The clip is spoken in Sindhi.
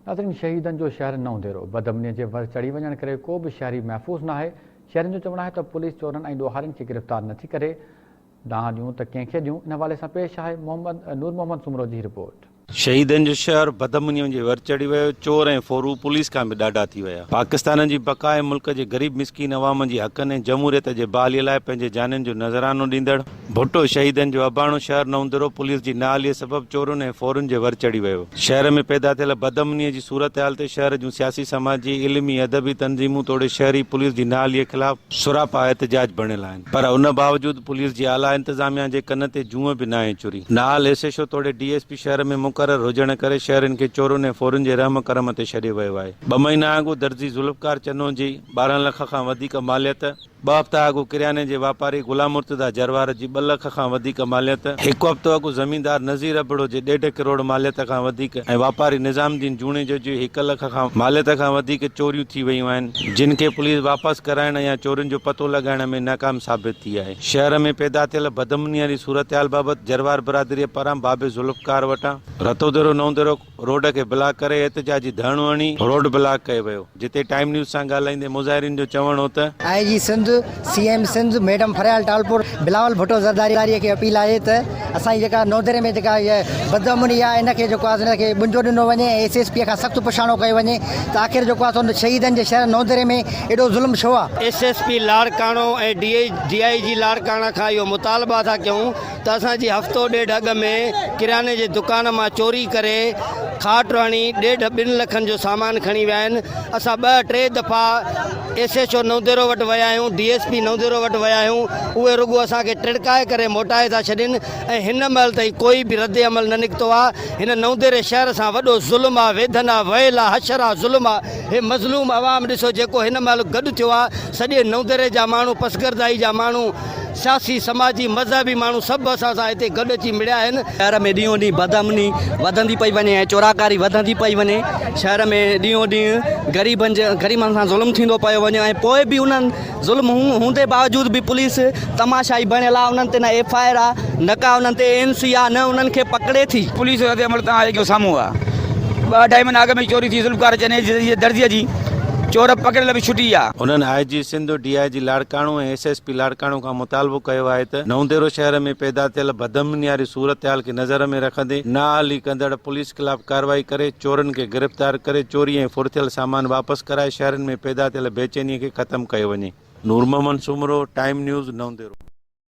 ناظرين شهيدن جو شهر نئون ديرو بدامنيء جي ور چڙهي وڃڻ ڪري ڪو به شهري محفوظ ناهي، شهرين جو چوڻ آهي ته پوليس چورن ۽ ڏوهارين کي گرفتار نٿي ڪري، دانهن ڏيون ته ڪنهن کي ڏيون، ان حوالي سان پيش آهي محمد نور محمد سومرو جي هي رپورٽ. شهيدن جو شهر بدامنيء جي ور چڙهي ويو، چور ۽ ڦورو پوليس کان به ڏاڍا ٿي ويا، پاڪستان جي بقا ۽ ملڪ جي غريب مسڪين عوام جي حقن ۽ جمهوريت جي بحاليء لاء پنهنجي جانين جو نذرانو ڏيندڙ، ڀٽو شهيدن جو اباڻو شهر نوندرو پوليس جي نااهليء سبب چورن ۽ ڦورن جي ور چڙهي ويو. شهر ۾ پيدا ٿيل بدامنيء جي صورتحال تي شهر جون سياسي، سماجي، علمي، ادبي تنظيمون توڙي شهري پوليس جي نااهليء خلاف سراپا احتجاج بڻيل آهن پر ان باوجود پوليس جي اعليٰ انتظاميا جي ڪن تي جونء به ناهي چري. نااهل ايس ايڇ او توڙي ڊي ايس پي شهر ۾ مقرر هجڻ ڪري شهرين کي چورن ۽ ڦورن جي رحم ڪرم تي ڇڏيو ويو آهي. ٻه مهينا اڳ درزي ذوالفقار چنو جي ٻارهن لک کان وڌيڪ ماليت، ٻه هفتا اڳ ڪرياني جي واپاري غلام مرتضيٰ جروار جي ٻه لک کان وڌيڪ ماليت، هڪ هفتو اڳ زميندار نذير ابڙو جي ڏيڍ ڪروڙ ماليت کان وڌيڪ ۽ واپاري نظام الدين جوڻيجو جي هڪ لک کان ماليت کان وڌيڪ چوريون ٿي ويون آهن، جن کي پوليس واپس ڪرائڻ يا چورين جو پتو لڳائڻ ۾ ناڪام ثابت ٿي آهي. شهر ۾ پيدا ٿيل بدامنيء واري صورتحال بابت جروار برادريء پاران بابي ذوالفقار وٽان Ratodero Naudero, road کي بلاڪ ڪري احتجاجي ڌرڻو هڻي روڊ بلاڪ ڪيو ويو جتي ٽائيم نيوز سان ڳالهائيندي مظاهرين جو چوڻ هو ته. I G Sindh, C M Sindh madam Faryal Talpur Bilawal Bhutto Zardari کي اپيل آهي ته اسان جي جيڪا نودري ۾ جيڪا هيء بدامني آهي ان کي جيڪو آهي سو ان کي ٻنجو ڏنو وڃي ۽ ايس ايس پي کان سخت پڇاڻو ڪيو وڃي ته آخر جيڪو آهي سو شهيدن جي شهر نودري ۾ ايڏو ظلم ڇو آهي. S S P Larkana ۽ D I G Larkana کان اهو مطالبا ٿا ڪيون ته اسان جي هفتو ڏيڍ اڳ ۾ ڪرياني جي دڪان مان چوري ڪري کاٽ هڻي ڏيڍ ٻن لکن جو سامان کڻي ويا آهن، اسان ٻه ٽي دفعا ايس ايڇ او نئونديرو وٽ ويا آهيون، ڊي ايس پي نئونديرو وٽ ويا آهيون، اهي رڳو اسان کي ٽڙڪائي ڪري موٽائي ٿا ڇڏين ۽ هن مهل تائين ڪوئي به رد عمل نه نڪتو آ، هن نئونديري شهر سان وڏو ظلم آ، ويڌن آ، ويل آ، حشر آ، ظلم آ، هي مظلوم عوام ڏسو جيڪو هن مهل گڏ ٿيو آ، سڄي نئونديري جا ماڻهو پسگردائي جا ماڻهو، سياسي، سماجي، مذهبي ماڻهو سڀ اسان سان هتي گڏ اچي مڙيا آهن. شهر ۾ ڏينهون ڏينهن بدامني وڌندي پئي وڃي ۽ چوراڪاري وڌندي پئي وڃي. شهر ۾ ڏينهون ڏينهن غريبن جي غريبن سان ظلم ٿيندو پيو وڃي ۽ پوء به انهن ظلم هوندي باوجود به پوليس تماشائي بڻيل آهي انهن تي نه ايف آء آر آهي نه ڪا انهن تي اين سي آهي نه انهن کي پڪڙي ٿي. پوليس جو ردعمل توهان جي اکين سامهون آهي ٻه اڍائي مهينا اڳ ۾ چوري ٿي ذوالفقار چنيجي جي درزي جي چور پڪڙيل به ڇٽي ويا. انهن I G Sindh, D I G Larkana ۽ A S S P Larkana کان مطالبو ڪيو آهي ته نونديرو شهر ۾ پيدا ٿيل بدامنياري صورتحال کي نظر ۾ رکندي نااهلي ڪندڙ پوليس خلاف ڪارروائي ڪري چورن کي گرفتار ڪري چوري ۽ ڦرٿيل سامان واپس ڪرائي شهرين ۾ پيدا ٿيل بيچيني کي ختم ڪيو وڃي. Noor Muhammad Soomro, time news, Naudero.